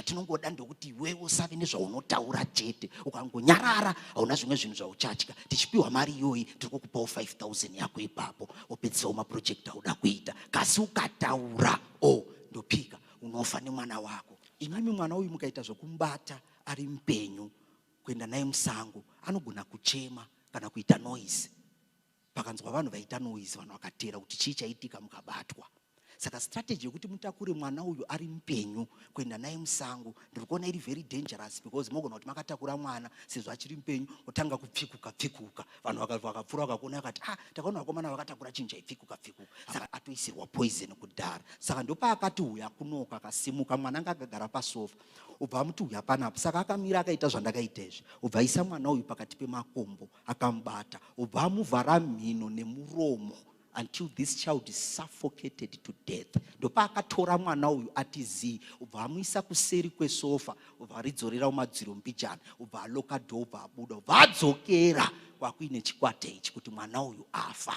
atinongoda ndokuti iwewe usave nezvaunotaura chete ukangonyarara hauna zvimwe zvinhu zvauchatya tichipiwa mari iyoyi tiri kukupawo 5000 yako ipapo wopedzisawo mapurojekti auda kuita kasi ukataura o oh, ndopika unofa nemwana wako imimi mwana uyu mukaita zvokumubata ari mupenyu kuenda naye musango anogona kuchema kana kuita noise Pakanzwa vanhu vaita noise vanhu vakateera kuti chii chaitika mukabatwa. Saka strategy yekuti mutakure mwana uyu ari mupenyu kuenda naye musango ndiri kuona iri very dangerous because mogona kuti makatakura mwana sezvo achiri mupenyu otanga kupfikuka pfikuka vanhu vakapfura vakakuona vakati ah takaona vakomana vakatakura chinhu chaipfikuka pfikuka saka atoisirwa poison kudhara saka ndopaakati uyu akunoka akasimuka mwana anga akagara pasofa ubva amuti uyu hapanapo saka akamira akaita zvandakaita izvi ubva aisa mwana uyu pakati pemakumbo akamubata obva amuvhara mhino nemuromo until this child is suffocated to death ndopaakatora mwana uyu ati zii obva amuisa kuseri kwesofa obva aridzorera kumadziro mbijana obva aloka dho obva abuda obva adzokera kwakuine chikwata ichi kuti mwana uyu afa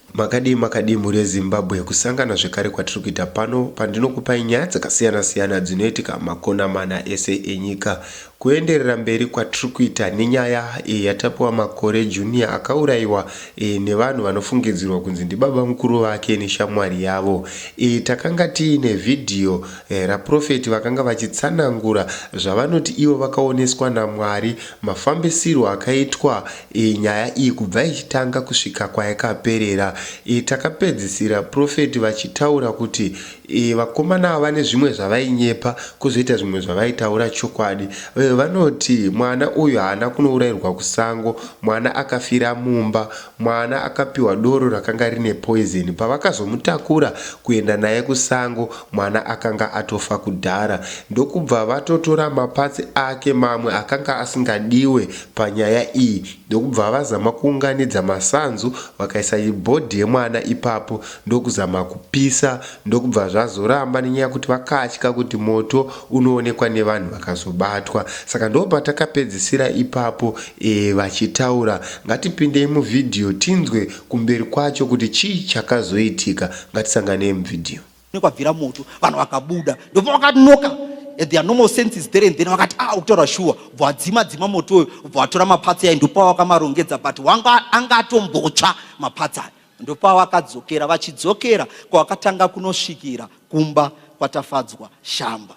Makadii makadii mhuri yeZimbabwe kusangana zvekare kwatiri kuita pano pandinokupai nyaya dzakasiyana siyana dzinoitika makona mana ese enyika. Kuenderera mberi kwatiri kuita nenyaya e, yaTapiwa Makore Junior akauraiwa e, nevanhu vanofungidzirwa kunzi ndibabamukuru vake neshamwari yavo. E, takanga tiine vhidhiyo e, raProphet vakanga vachitsanangura zvavanoti ivo vakaoneswa naMwari mafambisirwo akaitwa Iyi nyaya iyi kubva ichitanga kusvika kwayakaperera iyi takapedzisira prophet vachitaura kuti iyi vakomana ava vane zvimwe zvavainyepa kozoita zvimwe zvavaitaura chokwadi uye vanoti mwana uyu haana kunourairwa kusango mwana akafira mumba mwana akapiwa doro rakanga rine poison pavakazomutakura kuenda naye kusango mwana akanga atofa kudhara ndokubva vatotora mapatsi ake mamwe akanga asingadiwe panyaya iyi ndokubva vazama kuunganidza masanzu vakaisa body yemwana ipapo ndokuzama kupisa ndokubva zvazoramba nenyaya yekuti vakatya kuti moto unoonekwa nevanhu vakazobatwa saka ndopatakapedzisira ipapo e, vachitaura ngatipindei muvhidhiyo tinzwe kumberi kwacho kuti chii chakazoitika ngatisanganei muvhidhiyo kwabvira moto vanhu vakabuda ndopa vakanoka and their normal senses there and then vakati ah ukutaura shuwa bva wadzima dzima moto uyo bva watora mapatsi ayo ndopa wakamarongedza but wanga anga atombotsva mapatsi ayo ndopa wakadzokera vachidzokera kwavakatanga kunosvikira kumba kwatafadzwa shamba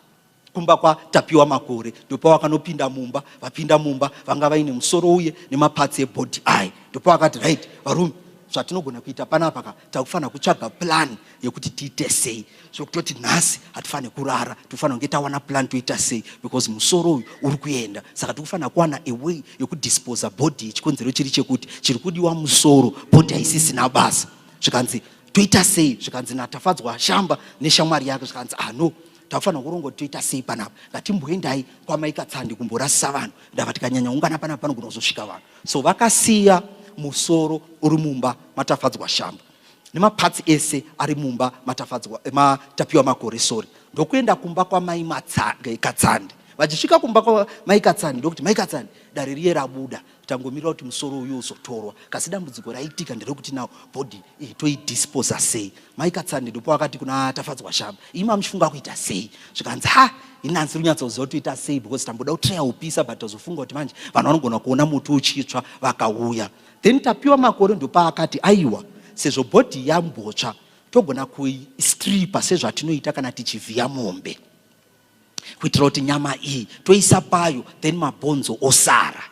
kumba kwa Tapiwa Makore ndopawakanopinda mumba vapinda mumba vanga vaine musoro uye nemaparts ebody aye ndopawakati right varume zvatinogona kuita panapa ka takufanira kutsvaga plan yekuti tiite sei zvekutoti nhasi hatifanire kurara tikufanira kunge tawana plan toita sei because musoro uyu uri kuenda saka tikufanira kuwana away yekudisposa body chikonzero chiri chekuti chiri kudiwa musoro body haisisina basa zvikanzi toita sei zvikanzi natafadzwa shamba neshamwari yake zvikanzi ah no takufanira kuronga kuti toita sei panapa ngatimboendai kwamai katsandi kumborasisa vanhu ndava tikanyanya ungana panapa panogona kuzosvika vanhu so vakasiya musoro uri mumba matafadzwa shamba nemapatsi ese ari mumba matafadzwa eh, matapiwa makore sori ndokuenda kumba kwamai eh, katsandi vachisvika kumba kwamai katsandi ndokuti mai katsandi dare riye rabuda tangomirira kuti musoro uyu uzotorwa kasi dambudziko raitika nderekuti now body iyi toidisposa sei mai katsande ndipo akati kuna tafadzwa shamba iyi mamuchifunga kuita sei zvikanzi ha inansi runyatsoziva kuti toita sei because tamboda kutreya upisa but azofunga kuti manje vanhu vanogona kuona muti uchitsva vakauya then tapiwa makore ndopaakati aiwa sezvo body yambotsva togona kuistripa sezvatinoita kana tichivhiya mombe kuitira kuti nyama iyi toisa payo then mabhonzo osara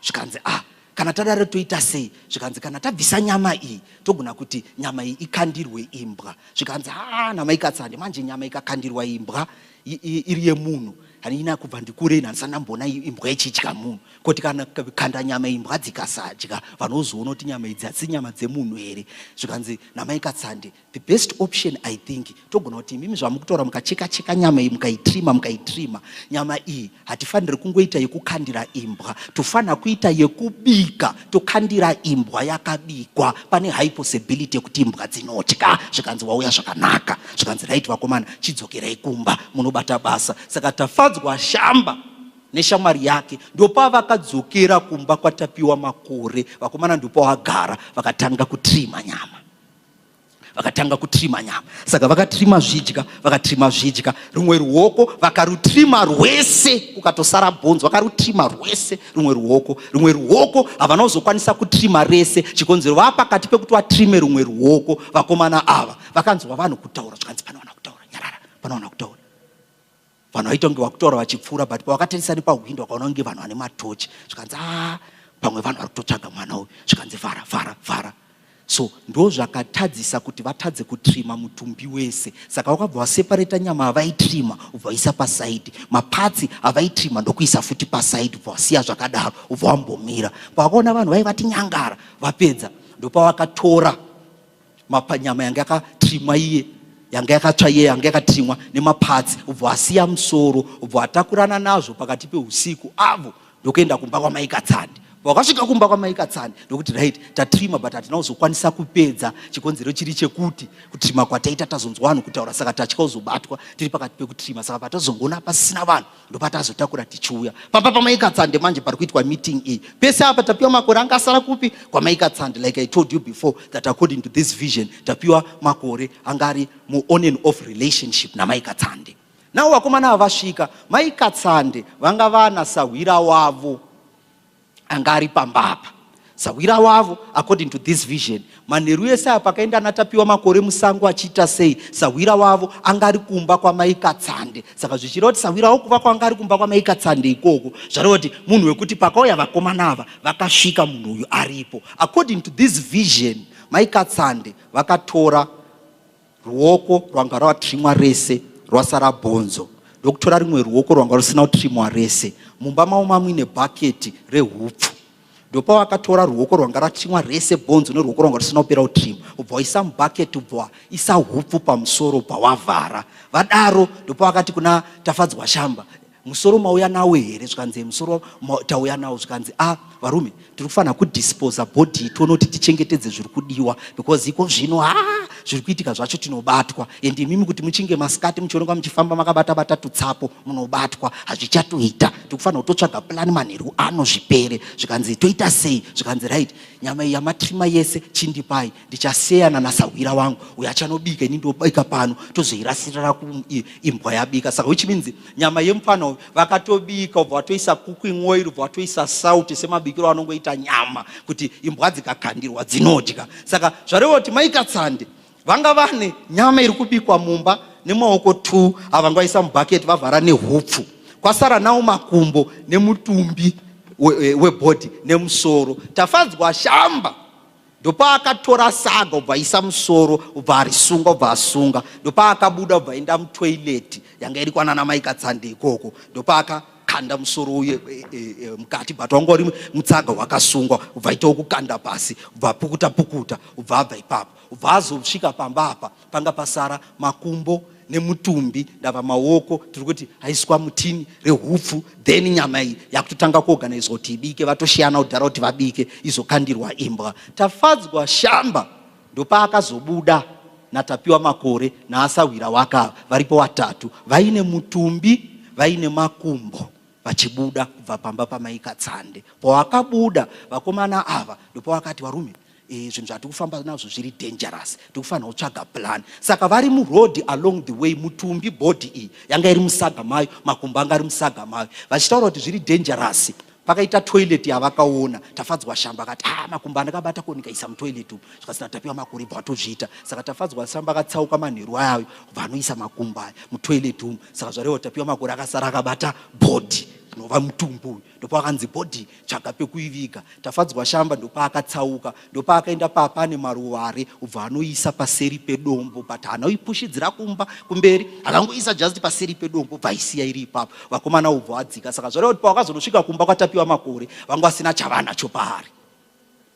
zvikanzi ah kana tadaro toita sei zvikanzi kana tabvisa nyama iyi togona kuti nyama iyi ikandirwe imbwa zvikanzi haa namaikatsande manje nyama ikakandirwa imbwa iri yemunhu hanina kubva ndikure ini handisana mbona imbwa ichidya munhu koti kana kanda nyama imbwa dzikasadya vanozoona kuti nyama idzi hadzisi nyama dzemunhu here zvikanzi namaikatsande the best option i think togona kuti imimi zvamukutora mukacheka cheka nyama iyi mukaitrima mukaitrima nyama iyi hatifaniri kungoita yekukandira imbwa tofanira kuita yekubika tokandira imbwa yakabikwa pane high possibility yekuti imbwa dzinotya zvikanzi wauya zvakanaka zvikanzi right vakomana chidzokerai kumba munobata basa saka tafadzwa shamba neshamwari yake ndopavakadzokera kumba kwatapiwa makore vakomana ndopavagara vakatanga kutrima nyama vakatanga kutrima nyama saka vakatrima zvidya vakatrima zvidya rumwe ruoko vakarutrima rwese kukatosara bhonzi vakarutrima rwese rumwe ruoko rumwe ruoko havana kuzokwanisa kutrima rese chikonzero vaa pakati pekuti vatrime rumwe ruoko vakomana ava vakanzwa vanhu kutaura zvikanzi panowana kutaura nyarara panowana kutaura vanhu vaita kunge vakutaura vachipfuura but pavakatarisa nepahwindo vakaona kunge vanhu vane matochi zvikanzi a ah, pamwe vanhu vari kutotsvaga mwana uyu zvikanzi vhara vhara vhara so ndo zvakatadzisa kuti vatadze kutrima mutumbi wese saka wakabva wasepareta nyama avaitrima ubva waisa pasaidi mapatsi avaitrima ndokuisa futi pasaidi ubva wasiya zvakadaro ubva wambomira pavakaona vanhu vaivati nyangara vapedza ndopavakatora mapanyama yanga yakatrimwa iye yanga yakatsva iye yanga yakatrimwa nemapatsi ubvo asiya musoro ubvo atakurana nazvo pakati peusiku avo ndokuenda kumba kwamaikatsandi vakasvika kumba kwamaikatsani ndokuti right tatrima but hatina kuzokwanisa kupedza chikonzero chiri chekuti kutrima kwataita tazonzwa vanhu kutaura saka tatya kuzobatwa tiri pakati pekutrima saka patazongoona pasina vanhu ndopatazotakura tichiuya pamba pamaikatsande manje pari kuitwa meeting iyi pese apa tapiwa makore anga asara kupi kwamaikatsande like i told you before that according to this vision tapiwa makore anga ari muon and off relationship namaikatsande navo vakomana ava vasvika maikatsande vanga vana sahwira wavo anga ari pamba apa sahwira wavo according to this vision manheru ese apa akaenda anatapiwa makore musango achiita sei sahwira wavo anga ari kumba kwamaikatsande saka zvichireva kuti sahwira wavo kuva kwanga ari kumba kwamaikatsande ikoko zvareva kuti munhu wekuti pakauya vakomana ava vakasvika munhu uyu aripo according to this vision maikatsande vakatora Ruoko rwanga rwatrimwa rese rwasara bhonzo ndokutora rimwe ruoko rwanga rusina kutrimwa rese. Mumba mavo mamuine bhaketi rehupfu ndopa wakatora ruoko rwanga ratrimwa rese bhonzo neruoko rwanga rusina kupera kutrimwa ubva waisa mubhaketi ubva waisa hupfu pamusoro ubva wavhara vadaro ndopa wakati kuna tafadzwa shamba musoro mauya nawo here zvikanzi musoro tauya nawo zvikanzi a ah, varume tiri kufanira kudisposa body tione kuti tichengetedze zviri kudiwa because iko zvino ha ah, zviri kuitika zvacho tinobatwa and imimi kuti muchinge masikati muchionekwa muchifamba makabata bata tutsapo munobatwa hazvichatoita tiri kufanira kutotsvaga plani manheru ano zvipere zvikanzi toita sei zvikanzi right nyama iyi yamatrima yese chindipai ndichaseyana nasahwira wangu uyo achanobika ini ndobika pano tozoirasirira kuimbwa yabika saka which means nyama yemupfana uyu vakatobika ubva watoisa cooking oil ubva watoisa sauti semabikiro anongoita nyama kuti imbwa dzikakandirwa dzinodya saka zvareva kuti maikatsande vanga vane nyama iri kubikwa mumba nemaoko two avanga vaisa mubhaketi vavhara nehupfu kwasara nawo makumbo nemutumbi webhodhi we, we nemusoro tafadzwa shamba ndopaakatora saga ubva aisa musoro ubva arisunga ubva asunga ndopaakabuda ubva aenda mutoileti yanga iri kwanana mai katsande ikoko ndopaaka kanda musoro uye e, e, e, mukati but wanga uri mutsaga wakasungwa ubva ita wokukanda pasi ubva apukuta pukuta ubva abva ipapo ubva azosvika pamba apa panga pasara makumbo nemutumbi ndava maoko tiri kuti haiswa mutini rehupfu then nyama iyi yakutotanga kuorganizwa kuti ibike vatoshiyana kudhara kuti vabike izokandirwa imbwa tafadzwa shamba ndopaakazobuda natapiwa makore naasahwira wakava varipo vatatu vaine mutumbi vaine makumbo vachibuda kubva pamba pamai Katsande. Pawakabuda vakomana ava ndopawakati varume e, zvinhu zvatiri kufamba nazvo zviri dangerous, tiri kufanira kutsvaga plan. Saka vari muroad along the way, mutumbi body iyi yanga iri musaga mayo, makumbo anga ari musaga mayo, vachitaura kuti zviri dangerous pakaita toilet yavakaona tafadzwa shamba akati ah makumbo andakabata ko ndikaisa mutoilet umu zvikasina tapiwa makore bva atozviita saka tafadzwa samba akatsauka manheru ayayo bva anoisa makumbo aya mutoilet umu saka zvareva tapiwa makore akasara akabata bhodhi nova mutumbu uyu ndopakanzi bhodhi tsvaga pekuiviga tafadzwa shamba ndopaakatsauka ndopaakaenda papa ane maruware ubva anoisa paseri pedombo but haana uipushidzira kumba kumberi akangoisa just paseri pedombo ubva aisiya iri ipapo vakomana ubva adzika saka zvareva kuti pawakazonosvika kumba kwatapiwa makore vanga vasina chavanacho paari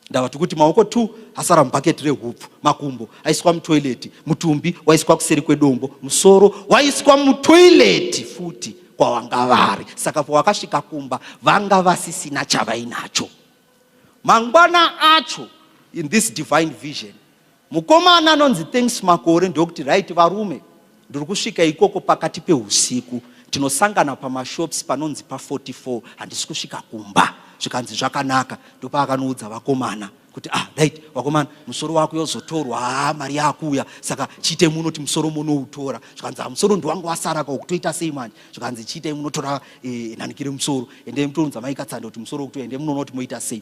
ndava tikuti maoko two asara mubhaketi rehupfu makumbo aiswa mutoileti mutumbi waiswa kuseri kwedombo musoro waiswa mutoileti futi kwavanga vari saka pawakasvika kumba vanga vasisina chavainacho mangwana acho in this divine vision Mukomana anonzi Thanks Makore ndokuti right varume ndiri kusvika ikoko pakati peusiku tinosangana pamashops panonzi pa44 handisi kusvika kumba zvikanzi zvakanaka ndopaakanoudza vakomana kuti ah right vakomana musoro wako yozotorwa haa ah, mari yakuuya saka chiite muno ti musoro munoutora zvikanzi ah, musoro ndiwangu wasara ka ukutoita sei manje zvikanzi chiite munotora eh, nhanikire musoro ende mutounza maikatsanda kuti musoro ukutoende munonoti moita sei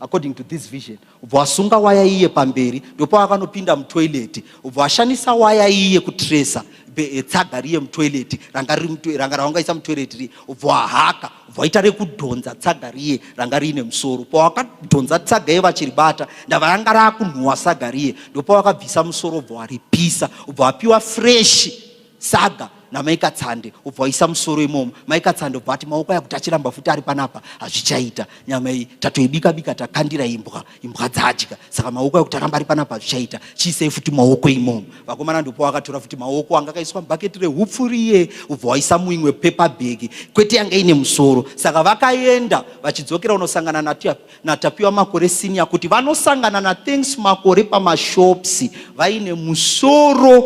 according to this vision ubva wasunga waya iye pamberi ndopa wakanopinda mutoileti ubva washandisa waya iye kutresa eh, tsaga riye mutoileti ranga raungaisa mutoileti riye ubva wahaka ubva waita rekudhonza tsaga riye ranga riine musoro pawakadhonza tsaga iye vachiribata ndava ranga raakunhuwa saga riye ndopa wakabvisa musoro ubva waripisa ubva wapiwa freshi saga namai katsande ubva waisa musoro imomo mai katsande ubva ati maoko ayakuti achiramba futi ari panapa hazvichaita nyama iyi tatoibika bika takandira imbwa imbwa dzadya saka maoko ayakuti aramba ari panapa hazvichaita chiisei futi maoko imomo vakomana ndopo wakatora futi maoko anga akaiswa mubhaketi rehupfu riye ubva waisa muimwe pepa bhegi kwete yanga ine musoro saka vakaenda vachidzokera unosangana natiya naTapiwa Makore Senior kuti vanosangana naThanks Makore pamashops vaine musoro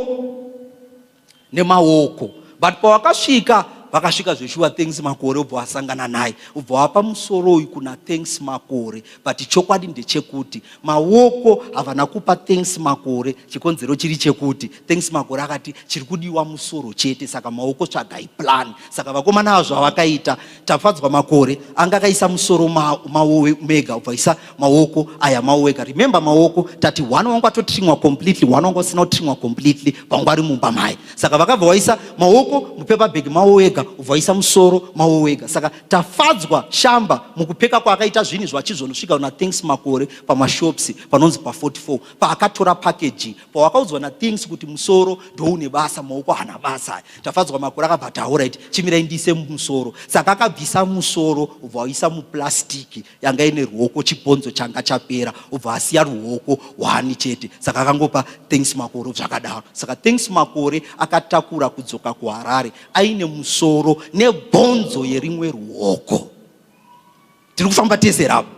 nemaoko but pavakasvika vakasvika zveshuwa thanks makore ubva wasangana naye ubva wapa musoro uyu kuna thanks makore but chokwadi ndechekuti maoko havana kupa thanks makore chikonzero chiri chekuti thanks makore akati chiri kudiwa musoro chete saka maoko tsvagai plan saka vakomana vazvo vavakaita Tafadzwa makore anga akaisa musoro mawowe mega ubvaisa maoko aya mawoweka remember maoko tati one wangu atotrimwa completely one wangu asina kutrimwa completely pangu ari mumba maye saka vakabva waisa maoko mupepa bhegi mawowega ubvaisa musoro mawowega saka tafadzwa shamba mukupfeka kwaakaita zvinhu zvachizvonosvika una thanks makore pamashops panonzi pa 44 paakatora package pawakaudzwa nathings kuti musoro ndoune basa maoko hana basa aya tafadzwa makore akabva taura iti chimirai ndiise musoro saka akabvisa musoro ubva waisa muplastiki yanga ine ruoko chibhonzo changa chapera ubva asiya ruoko hwani chete saka akangopa things makore zvakadaro saka things makore akatakura kudzoka kuharare aine musoro nebhonzo yerimwe ruoko tiri kufamba tese ravo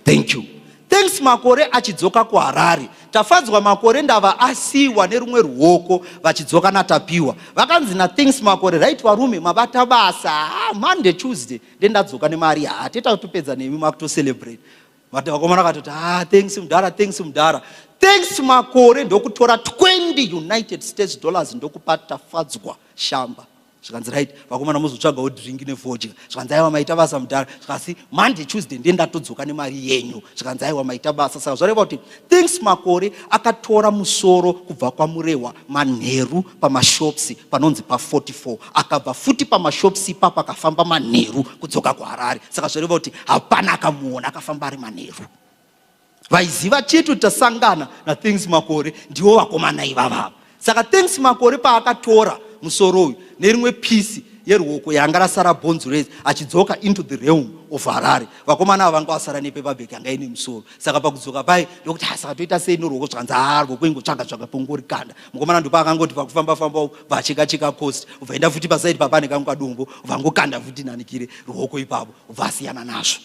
thank you thanks makore achidzoka kuharare tafadzwa makore ndava asiwa nerumwe ruoko vachidzoka natapiwa vakanzi nathanks makore right varume mabata basa ah, monday tuesday ndendadzoka nemari haa ah, teta kutopedza nemi makutocelebrate vakomana vakatoti ha ah, thanks mudhara thanks mudhara thanks makore ndokutora 20 united states dollars ndokupa tafadzwa shamba zvikanzi right vakomana mozotsvagawo drink nefodya zvikanzi aiwa maita basa mudhara zvikasi monday tuesday ndiye ndatodzoka nemari yenyu zvikanzi aiwa maita basa saka zvareva kuti thinks makore akatora musoro kubva kwamurehwa manheru pamashops panonzi pa44 akabva futi pamashops ipapo akafamba manheru kudzoka kuharare saka zvareva kuti hapana akamuona akafamba ari manheru vaiziva chete kuti tasangana nathings makore ndivo vakomana ivavava saka things makore paakatora musoro uyu nerimwe pisi yeruoko yanga rasara bonzo rese achidzoka into the realm of harare vakomana ava vanga vasara nepepabek yanga ine musoro saka pakudzoka paye ndokuti ha saka toita sei noruoko zvikanzi haa ruoko ingotsvaga tsvaga pongori kanda mukomana ndopa akangoti pakufamba famba vacheka cheka cost ubva enda futi pasaidi papane kangu kadombo ubva ngokanda futi nanikire ruoko ipapo ubva asiyana nazvo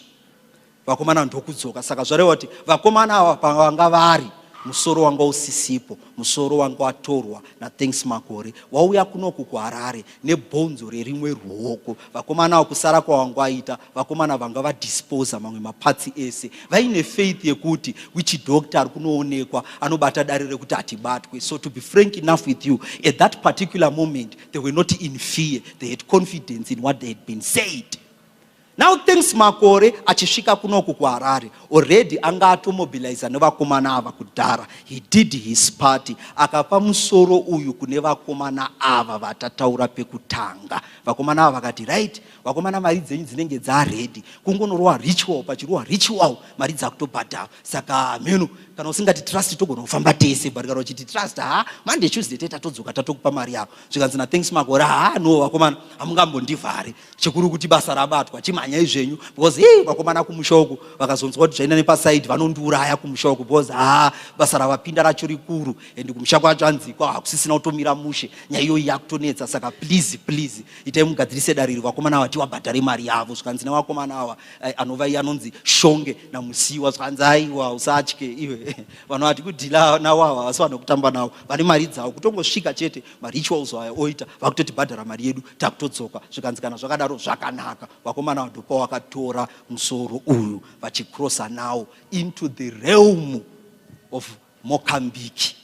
vakomana ndokudzoka saka zvareva kuti vakomana ava pavanga vari musoro wanga usisipo musoro wanga watorwa nathanks makore wauya kunoku kuharare nebhonzo rerimwe ruoko vakomana avo kusara kwavanga waita vakomana vanga vadisposa mamwe mapatsi ese vaine faith yekuti wichi doctor ari kunoonekwa anobata dare rekuti hatibatwe so to be frank enough with you at that particular moment they were not in fear they had confidence in what they had been said Now thanks makore achisvika kunoku kuHarare already anga atomobilizer nevakomana ava kudhara. He did his party akapa musoro uyu kune vakomana ava vatataura pekutanga. Vakomana ava vakati right, vakomana mari dzenyu dzinenge dzaready kungonorowa ritual pachirowa ritual mari dzakutobhadhara. Saka mheno kana usingati trust togona kufamba tese barikaro chiti trust ha Monday Tuesday teta todzoka tatokupa mari yako. zvikanzi nathanks makore haa no vakomana hamungambondivhari chikuru kuti basa rabatwa chimhanyai zvenyu because hii vakomana kumusha uku vakazonzwa kuti zvaina nepasaidi vanondiuraya kumusha uku because haa basa ravapinda racho rikuru and kumusha kwacho anzikwa hakusisina kutomira mushe nyaya iyoyi yakutonetsa saka please please itai mugadzirise dare iri vakomana ava tiwabhadhare mari yavo zvikanzi nevakomana ava eh, anova iye anonzi shonge namusiwa zvikanzi aiwa usatye iwe vanhu vati kudhila nawo ava vasi vanokutamba nawo vane mari dzavo kutongosvika chete marituals aya oita vakutotibhadhara mari yedu takutodzoka zvikanzi kana zvakadaro zvakanaka vakomana vadopa wakatora musoro uyu vachicrossa now into the realm of mokambiki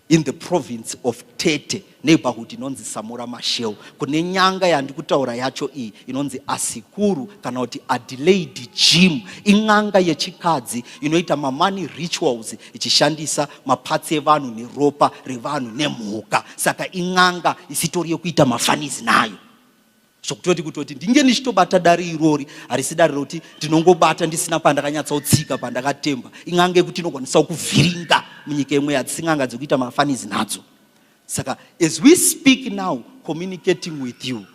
in the province of tete neighborhood inonzi samura mashel kune nyanga yandikutaura yacho iyi inonzi asikuru kana kuti adelaide jim in'anga yechikadzi inoita mamani rituals ichishandisa mapatsi evanhu neropa revanhu nemhuka saka in'anga isitori yekuita mafanizi nayo zvokutoti kutoti ndinge ndichitobata dare irori harisi dare rokuti ndinongobata ndisina pandakanyatsotsika pandakatemba in'anga yekuti inokwanisa kuvhiringa munyika imwe yadzin'anga dzekuita mafanizi nadzo saka as we speak now communicating with you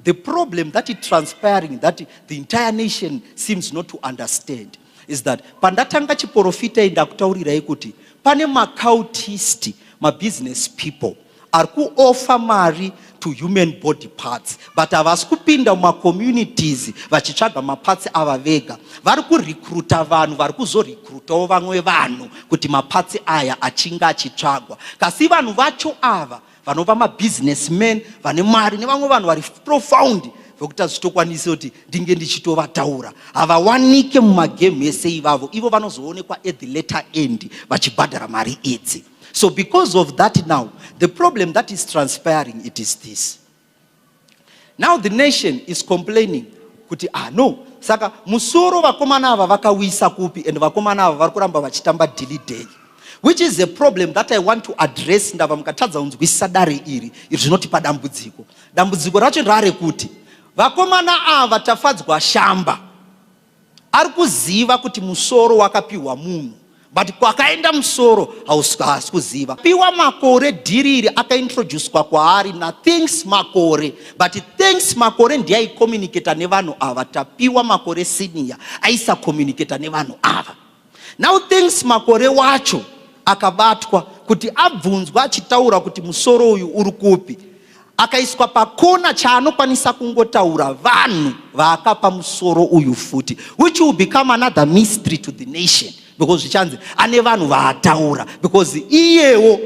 the problem that is transpiring that the entire nation seems not to understand is that pandatanga chiporofita iyi ndakutaurirai kuti pane macautist mabusiness people ari kuofa mari to human body parts but havasi kupinda mumacommunities vachitsvaga mapatsi ava vega vari kurekruta vanhu vari kuzorekrutawo vamwe vanhu kuti mapatsi aya achinge achitsvagwa kasi vanhu vacho ava vanova mabusinessman vane mari nevamwe vanhu vari profound vekuti hazvitokwanisi kuti ndinge ndichitovataura havawanike mumagame ese ivavo ivo vanozoonekwa at the letter end vachibhadhara mari idzi so because of that now the problem that is transpiring it is this now the nation is complaining kuti ah no saka musoro vakomana ava vakauisa kupi and vakomana ava vari kuramba vachitamba dilly day which is a problem that i want to address ndava mukatadza kunzwisisa dare iri iri zvinotipa dambudziko dambudziko racho ndarekuti vakomana ava tafadzwa shamba Ari kuziva kuti musoro wakapiwa munhu but kwakaenda musoro haasi kuziva. Piwa makore dhiri iri akaintroducwa kwaari nathanks makore but thanks makore ndiye aicommunicata nevanhu ava tapiwa makore senior aisacommunicata nevanhu ava. Now thanks makore wacho akabatwa kuti abvunzwa achitaura kuti musoro uyu uri kupi akaiswa pakona chaanokwanisa kungotaura vanhu vaakapa musoro uyu futi which will become another mystery to the nation because zvichanzi ane vanhu vaataura because iyewo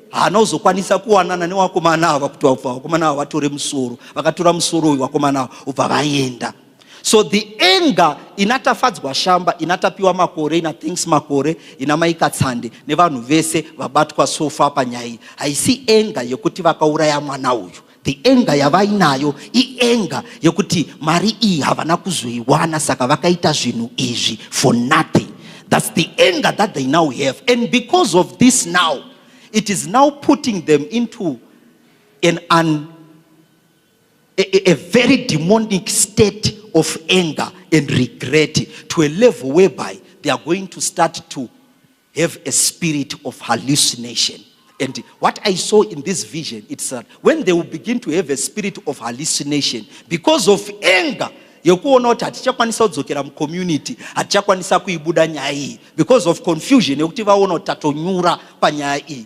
haana kuzokwanisa kuwanana newakomana ava kuti vakomana ava vatore musoro vakatora musoro uyu wakomana ava ubva vaenda so the anger ina tafadzwa shamba ina tapiwa makore ina thanks makore ina maika tsande nevanhu vese vabatwa sofa panyaya iyi haisi anger yekuti vakauraya mwana uyu the anger yavainayo ianger yekuti mari iyi havana kuzoiwana saka vakaita zvinhu izvi for nothing thats the anger that they now have and because of this now it is now putting them into an un a, a, a very demonic state of anger and regret to a level whereby they are going to start to have a spirit of hallucination. And what I saw in this vision, it's that when they will begin to have a spirit of hallucination because of anger, yekuona kuti hatichakwanisa kudzokera mucommunity hatichakwanisa kuibuda nyaya iyi because of confusion yekuti vaona kuti tatonyura panyaya iyi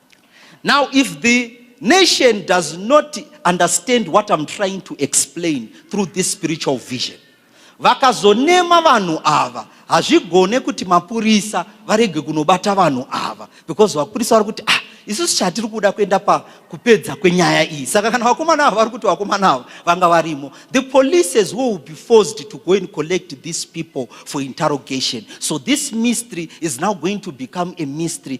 Now if the nation does not understand what I'm trying to explain through this spiritual vision vakazonema vanhu ava hazvigone kuti mapurisa varege kunobata vanhu ava because vapurisa vari kuti ah isusu chatiri kuda kuenda pakupedza kwenyaya iyi saka kana vakomana ava vari kuti vakomana ava vanga varimo the polices will be forced to go and collect these people for interrogation so this mystery is now going to become a mystery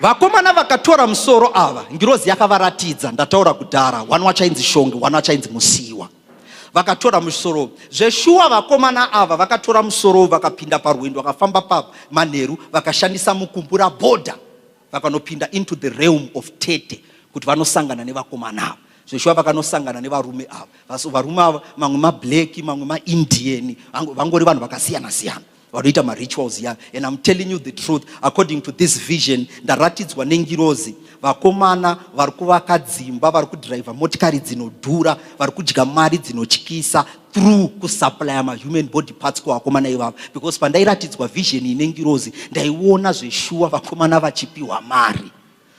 vakomana vakatora musoro ava ngirozi yakavaratidza ndataura kudhara wani wachainzi shongi wani wachainzi musiwa vakatora musoro zveshuwa vakomana ava vakatora musoro vakapinda parwendo vakafamba pamanheru vakashandisa mukumbura bhodha vakanopinda into the realm of tete kuti vanosangana nevakomana ava zveshuwa vakanosangana nevarume ava Vaso- varume ava mamwe mablack mamwe maindian vango- vangori vanhu vakasiyana siyana vanoita marituals ya and i'm telling you the truth according to this vision ndaratidzwa nengirozi vakomana vari kuvaka dzimba vari kudhiraivha motikari dzinodhura vari kudya mari dzinotyisa through kusuplya mahuman body parts kuvakomana ivavo because pandairatidzwa vision ine ngirozi ndaiona zveshuwa vakomana vachipiwa mari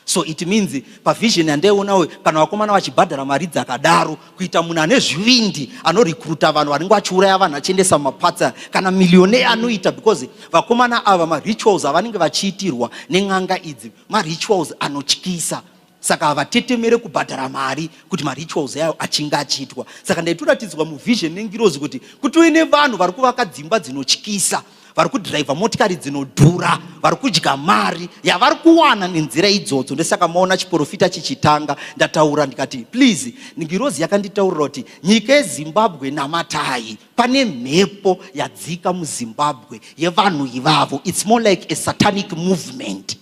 so it means pavision yandaionawo kana vakomana vachibhadhara mari dzakadaro kuita munhu ane zvivindi anorekruta vanhu vanenge vachiuraya vanhu achiendesa mumapatsa kana millionaire anoita because vakomana ava marituals avanenge vachiitirwa nen'anga idzi marituals anotyisa saka havatetemere kubhadhara mari kuti marituals ayo achinge achiitwa saka ndaitoratidzwa muvision nengirozi kuti kuti uine vanhu vari kuvaka dzimba dzinotyisa vari kudhiraivha motikari dzinodhura vari kudya mari yavari kuwana nenzira idzodzo ndosaka maona chiporofita chichitanga ndataura ndikati please ngirozi yakanditaurira kuti nyika yezimbabwe namatai pane mhepo yadzika muzimbabwe yevanhu ivavo its more like a satanic movement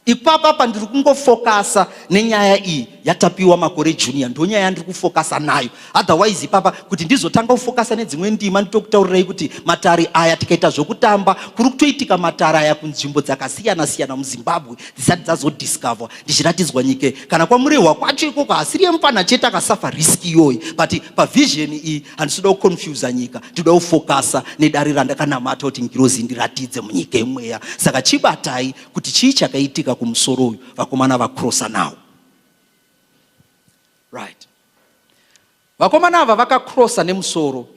Ipapa pandiri kungofokasa nenyaya iyi yaTapiwa Makore Junior, ndonyaya yandiri kufokasa nayo. Otherwise ipapa kuti ndizotanga kufokasa nedzimwe ndima nditokutaurirai kuti matare aya tikaita zvokutamba kuri kutoitika matare aya kunzvimbo dzakasiyana siyana muZimbabwe dzisati dzazodiscover ndichiratidzwa nyike kana kwamurehwa kwacho ikoko hasiri yemupana chete akasafa risk iyoyi but pavision iyi handisida kuconfusa nyika ndinoda kufokasa nedare randakanamata kuti ngirozi ndiratidze munyika yemweya saka chibatai kuti chii chakaitika kumusoro uyu vakomana vakrosa nawo right vakomana ava vakakrosa nemusoro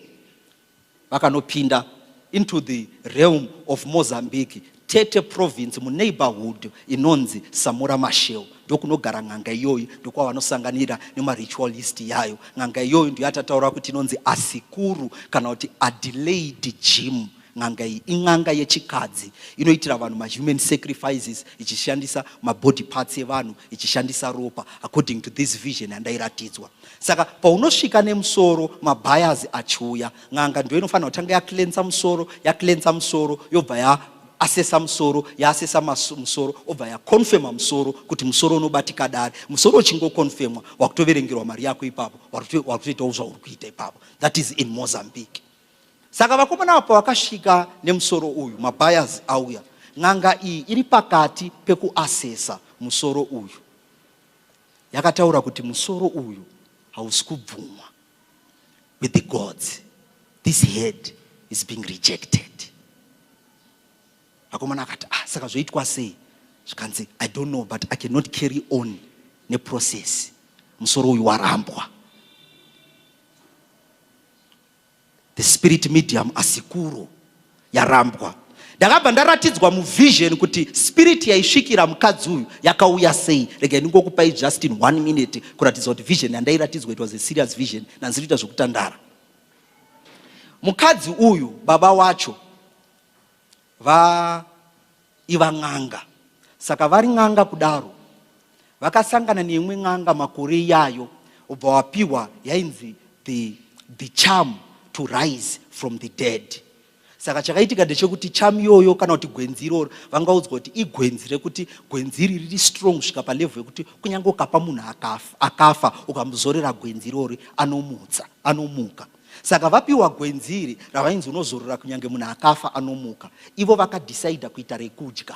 vakanopinda into the realm of mozambique Tete province muneighborhood inonzi Samora Mashel ndokunogara n'anga iyoyi ndokwavanosanganira nemaritualist yayo n'anga iyoyi ndiyo yatataura kuti inonzi asikuru kana kuti adelaide jim n'anga iyi in'anga yechikadzi inoitira vanhu mahuman sacrifices ichishandisa mabody parts evanhu ichishandisa ropa according to this vision yandairatidzwa saka paunosvika nemusoro mabias achiuya n'anga ndiyo inofanira kutanga yaklensa musoro yaklensa musoro yobva ya asesa musoro yaasesa musoro obva yakonfema musoro kuti musoro unobatika dare musoro uchingokonfemwa wakutoverengerwa mari yako ipapo wakutoitawo zvauri kuita ipapo that is in mozambique saka vakomana vapo vakasvika nemusoro uyu mabayers auya n'anga iyi iri pakati pekuasesa musoro uyu yakataura kuti musoro uyu hausi kubvumwa with the gods this head is being rejected akomana akati ah saka zvoitwa sei zvikanzi i don't know but i cannot carry on neprocess musoro uyu warambwa The spirit medium asikuru yarambwa. Ndakabva ndaratidzwa muvision kuti spirit yaisvikira mukadzi uyu yakauya sei. Rega ndingokupai just in one minute kuratidza kuti vision yandairatidzwa it was a serious vision nanzi kuita zvekutandara. Mukadzi uyu baba wacho va iva n'anga saka vari n'anga kudaro vakasangana neimwe n'anga makore iyayo ubva wapiwa yainzi the, the charm to rise from the dead saka chakaitika ndechekuti charm iyoyo kana kuti gwenzi iroro vangaudzwa kuti igwenzi rekuti gwenzi iri riri strong kusvika palevhu yekuti kunyange ukapa munhu akafa ukamuzorera gwenzi irori anomutsa anomuka saka vapiwa gwenzi iri ravainzi unozorora kunyange munhu akafa anomuka ivo vakadhisaidha kuita rekudya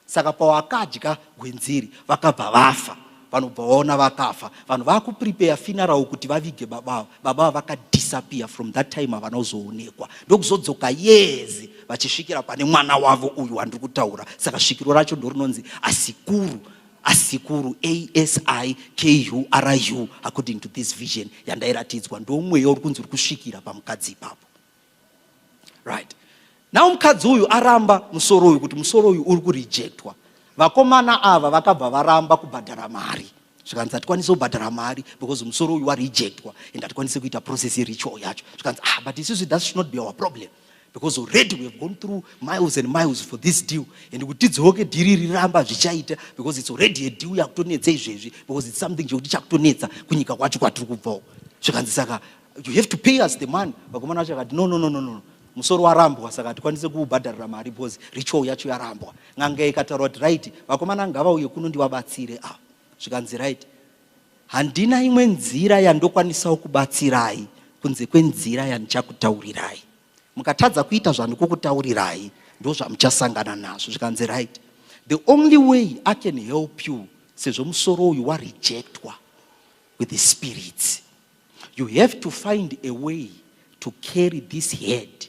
saka pawakadya gwenzi iri vakabva vafa vanobva vaona vakafa vanhu vakupripeya finarau kuti vavige baba avo baba avo vakadhisapiya from that time havana kuzoonekwa ndokuzodzoka yezi vachisvikira pane mwana wavo uyu wandiri kutaura saka svikiro racho ndorinonzi asikuru asikuru ASIKURU according to this vision yandairatidzwa ndomweya uri kunzi uri kusvikira pamukadzi ipapo right now mukadzi uyu aramba musoro uyu kuti musoro uyu uri kurejectwa vakomana ava vakabva varamba kubhadhara mari zvikanzi hatikwanise kubhadhara mari because musoro uyu warejectwa and hatikwanise kuita process yeritual yacho zvikanzi ah but isusu that should not be our problem because already we have gone through miles and miles for this deal and kuti tidzoke dhiri riramba zvichaita because it's already a deal yakutonetsa izvezvi because it's something chekuti chakutonetsa kunyika kwacho kwatiri kubvawo zvikanzi saka you have to pay us the money vakomana vacho vakati no no no no no musoro warambwa saka hatikwanise kuubhadharira mari because ritual yacho yarambwa n'anga ikataura kuti right vakomana ngavauye kuno ndivabatsire ava ah, zvikanzi right Handina imwe nzira yandokwanisawo kubatsirai kunze kwenzira yandichakutaurirai. Mukatadza kuita zvandikukutaurirai ndozvamuchasangana nazvo zvikanzi right. The only way I can help you sezvo musoro uyu warejectwa with the spirits. You have to find a way to carry this head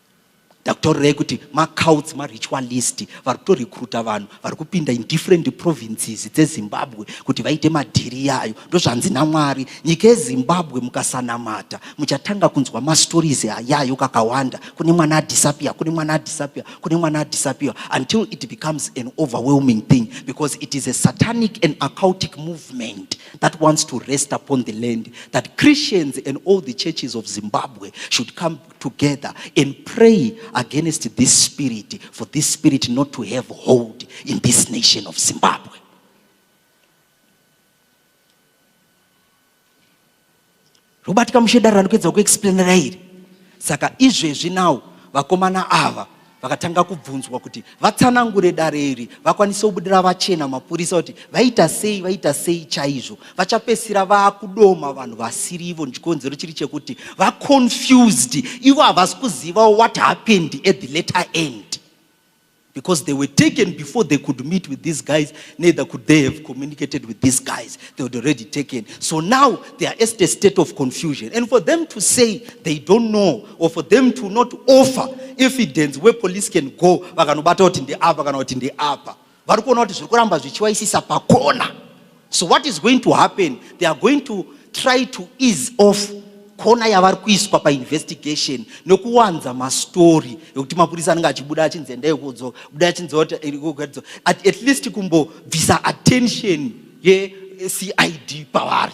ndakutorirei kuti macouts maritual list vari kutorecruta vanhu vari kupinda in different provinces dzezimbabwe kuti vaite madhiri yayo ndozvanzi namwari nyika yezimbabwe mukasanamata muchatanga kunzwa mastories ayayo kakawanda kune mwana adisappear kune mwana adisappear kune mwana adisappear until it becomes an overwhelming thing because it is a satanic and acoutic movement that wants to rest upon the land that christians and all the churches of zimbabwe should come together and pray against this spirit for this spirit not to have hold in this nation of Zimbabwe. Robert Kamushedara anokuedza kuexplainera iri. Saka izvezvi now vakomana ava vakatanga kubvunzwa kuti vatsanangure dare iri vakwanise kubudira vachena mapurisa kuti vaita sei vaita sei chaizvo vachapesira vakudoma vanhu vasiri ivo chikonzero chiri chekuti vaconfused ivo havasi kuziva what happened at the letter end because they were taken before they could meet with these guys neither could they have communicated with these guys they were already taken so now they are at a state of confusion and for them to say they don't know or for them to not offer evidence where police can go vakanobata kuti ndeapa kana kuti ndeapa vari kuona kuti zviri kuramba zvichiwaisisa pakona so what is going to happen they are going to try to ease off kona yavari kuiswa painvestigation nokuwanza mastori ekuti mapurisa anenge achibuda achinzi endai kudzo buda achinzi eh, at least kumbobvisa attention yecid pavari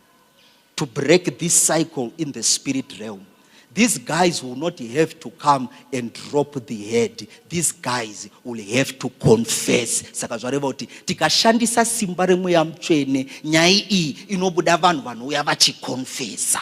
to break this cycle in the spirit realm these guys will not have to come and drop the head these guys will have to confess saka zvareva kuti tikashandisa simba remweya mutsvene nyaya iyi inobuda vanhu vanouya vachikonfesa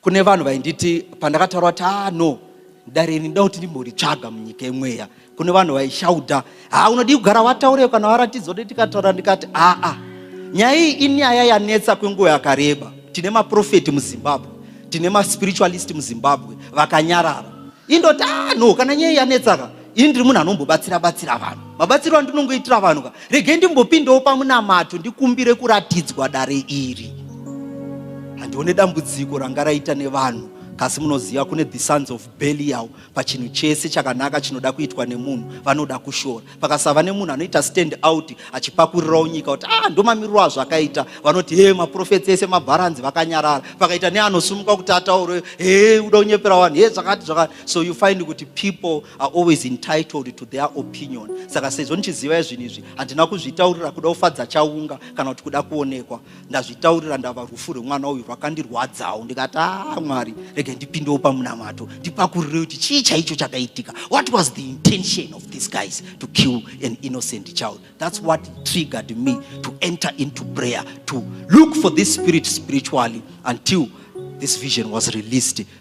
kune vanhu vainditi pandakataura kuti ah no dare iri nda kuti ndimboritsvaga munyika yemweya kune vanhu vaishauda ha unodii kugara wataurei kana waratidza kuti tikataura ndikati aa ah, ah. nyaya iyi inyaya yanetsa kwenguva yakareba tine maprofeti muzimbabwe tine maspiritualist muzimbabwe vakanyarara indoti ah no kana nyaya yanetsaka ini ndiri munhu anombobatsira batsira vanhu mabatsiro andinongoitira vanhu ka regai ndimbopindewo pamunamato ndikumbire kuratidzwa dare iri handione dambudziko ranga raita nevanhu kasi munoziva kune the sons of belial pachinhu chese chakanaka chinoda kuitwa nemunhu vanoda kushora pakasava nemunhu anoita stand out achipakurirawo nyika kuti ah ndomamiriro azvo akaita vanoti he maprofets ese mabharanzi vakanyarara pakaita neanosumuka kuti ataure he uda kunyepera vanhu he zvakati zvakati so you find kuti people are always entitled to their opinion saka sezvo ndichizivai zvinhu izvi handina kuzvitaurira kuda kufadza chaunga kana kuti kuda kuonekwa ndazvitaurira ndava rufu rwemwana uyu rwakandirwadzawo ndikati a ah, mwari rege ndipindewo pamunamato ndipakurire kuti chii chaicho chakaitika what was the intention of these guys to kill an innocent child that's what triggered me to enter into prayer to look for this spirit spiritually until this vision was released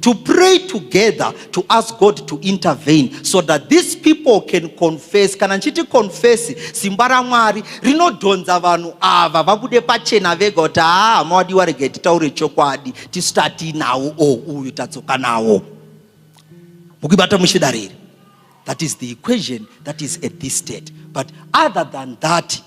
to pray together to ask God to intervene so that these people can confess. Kana nchiti confess, simba ramwari rinodhonza vanhu ava vabude pachena vega kuti haa ah, mawadiwa rega titaure chokwadi tisitati nawo o oh, uyu tadzoka nawo mukuibata muchidariri that is the equation that is at this state but other than that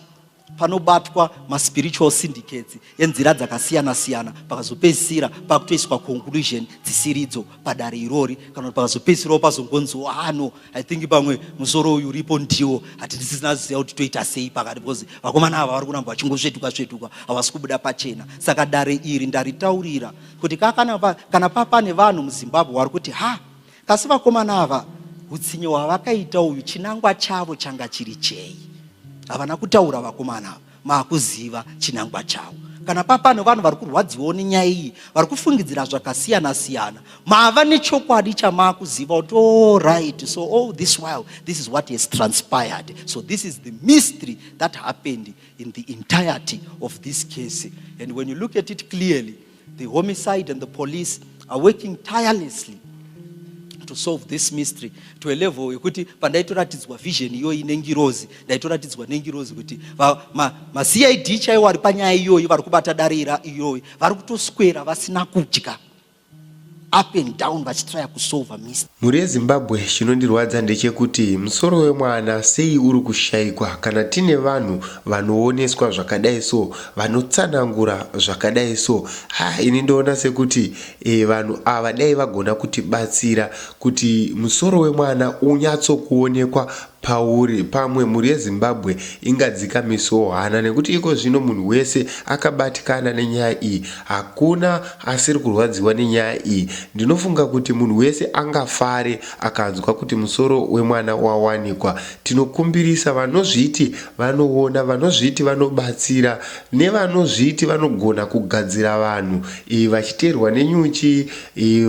panobatwa maspiritual syndicates enzira dzakasiyana siyana pakazopedzisira pakutoiswa conclusion dzisiridzo padare irori kana kuti pakazopedzisirawo pazongonziwo ano ah, i think pamwe musoro uyu uripo ndiwo hati ndisisina ziva kuti toita sei pakati because vakomana ava vari kuramba vachingosvetuka svetuka havasi kubuda pachena saka dare iri ndaritaurira kuti kana papane vanhu muzimbabwe vari kuti ha Asi vakomana ava hutsinye hwavakaita uyu chinangwa chavo changa chiri chei havana kutaura vakomana ava maakuziva chinangwa chavo kana papane vanhu vari kurwadziwawo nenyaya iyi vari kufungidzira zvakasiyana siyana mava nechokwadi chamaakuziva kuti orit oh, so all this while this is what has transpired so this is the mystery that happened in the entirety of this case and when you look at it clearly The homicide and the police are working tirelessly to solve this mystery to a level yekuti pandaitoratidzwa vision iyoyi nengirozi ndaitoratidzwa nengirozi kuti macid ma, chaiwo ari panyaya iyoyi vari kubata dare iyoyi vari kutoswera vasina kudya up and down vachitraya kusolva mist mhuri yezimbabwe chinondirwadza ndechekuti musoro wemwana sei uri kushaikwa kana tine vanhu vanooneswa zvakadai so vanotsanangura zvakadai so ha ini ndoona sekuti e, vanhu ava dai vagona kutibatsira kuti musoro wemwana unyatsokuonekwa pauri pamwe mhuri yeZimbabwe ingadzikamisewo hana nekuti iko zvino munhu wese akabatikana nenyaya iyi hakuna asiri kurwadziwa nenyaya iyi ndinofunga kuti munhu wese angafare akanzwa kuti musoro wemwana wawanikwa tinokumbirisa vanozviti vanoona vanozviti vanobatsira nevanozviti vanogona kugadzira vanhu vachiterwa nenyuchi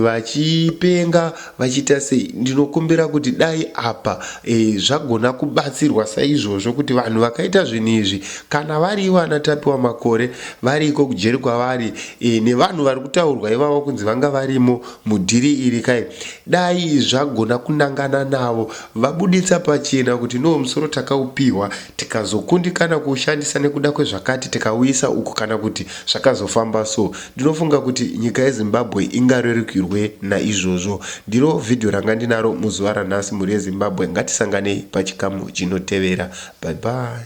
vachipenga Vachiita sei? Ndinokumbira kuti dai apa e, zvagona kubatsirwa saizvozvo kuti vanhu vakaita zvinhu izvi kana vari ivo ana Tapiwa Makore variko kujeri kwavari e, nevanhu vari kutaurwa ivavo kunzi vanga varimo mudhiri iri kai dai zvagona kunangana navo vabuditsa pachena kuti no musoro takaupihwa tikazokundikana kuushandisa nekuda kwezvakati tikauisa uku kana kuti zvakazofamba so Ndinofunga kuti nyika yeZimbabwe ingarerukirwe naizvozvo. Ndiro vhidhiyo ranga ndinaro muzuva ranhasi mhuri yeZimbabwe ngatisanganei pachikamu chinotevera. Bye bye.